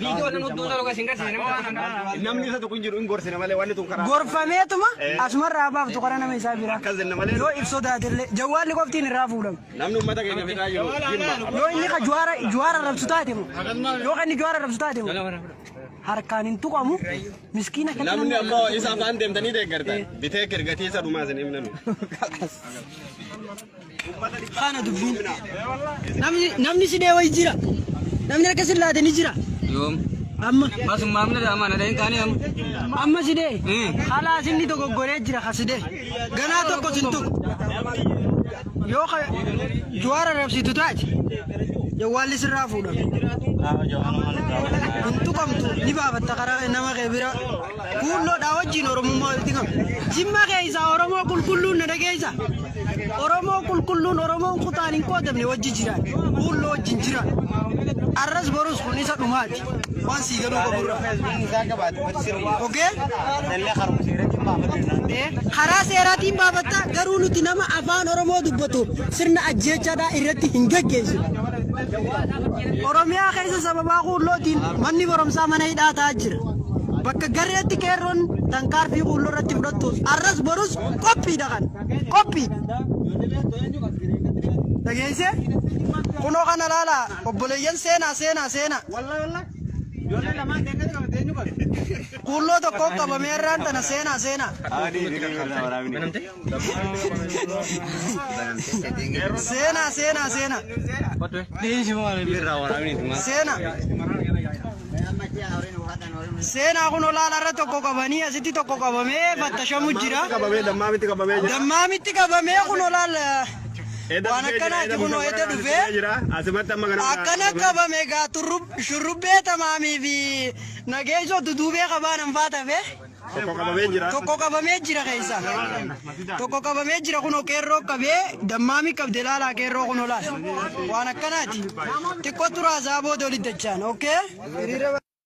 Viidiyoo nan hudduu sana dhugaa isin garsiise nama waan akkanaa. Namni isa tokko hin jiru hin gorsina malee wanni tun karaa. Gorfameetuma asumarraa baaftu karaa nama isaa biraa. Akkas jenna malee. Yoo if sodaatellee jawwaalli qoftiin irraa fuudhamu. Namni uummata keenya fixaa jiru jimma. Yoo inni ka juwaara juwaara rabsu taate moo yoo kan inni juwaara rabsu taate moo harkaan hin tuqamu miskiina kan Namni ammoo isa afaan deemtanii deeggartan bitee kirgatii isa dhumaa isin himnanu. Kana dubbiin. Namni namni si dhee wayi jira. Namni akka si laate ni jira. Yoom? Amma Masum maamila dha amaana dha hin taane amma. amma si dhee. Eh. Halaas inni dogoggoree jira ka si dhee. Ganaa tokko sin tuqu. Yoo ka juwaara rabsitu taate jawwaalli sirraa fuudha. Hin tuqamtu ni baafatta karaa nama kee bira. Kuulloodhaa wajjin Oromummaa walitti qabu. Jimma keessa Oromoo qulqulluun na dhageessa. Oromoo qulqulluun Oromoon kutaan hin qoodamne wajji jiraan. Kuulloo wajjin jiraan. Arras borus kun isa dhumaati. Waan sii galuu qaburra. Ogee? Karaa seeraatiin baafatta garuu nuti nama afaan Oromoo dubbatu sirna ajjeechaadhaa irratti hin geggeessu. Oromiyaa keessa sababaa kuullootiin manni barumsaa mana hidhaa ta'aa jira. bakka gareetti qeerroon tankaarfii quulloo irratti fudhattuus arras borus qophiidha kan qophii dhageessee kunoo kana laala obboleeyyan seenaa seenaa seenaa quulloo tokko qabamee irraan tana seenaa seenaa. Ani hiriirri irraa waraabni. Seenaa seenaa seenaa. Seenaa. Seenaa kun olaanaa irra tokko qabanii asitti tokko qabamee fattashamu jira. qabamee dammaa miti qabamee jira. Dammaa miti qabamee kun olaal Edda waan dhufee jira, akkanaati edda kun dhufee edda jira, dhufee jira. Asimatti amma kana akkana qabame egaa turrub- shurrubbee tamaamii fi nageessoo duduubee qabaan hin faatafe. Tokko qabamee jira. Tokko qabamee jira keessa. Tokko qabamee jira kunoo qeerroo qabee dammaamii qabde laalaa qeerroo kunoo laala. Waan akkanaati. Xiqqoo turaa isaa booda olidachaan. Okkee?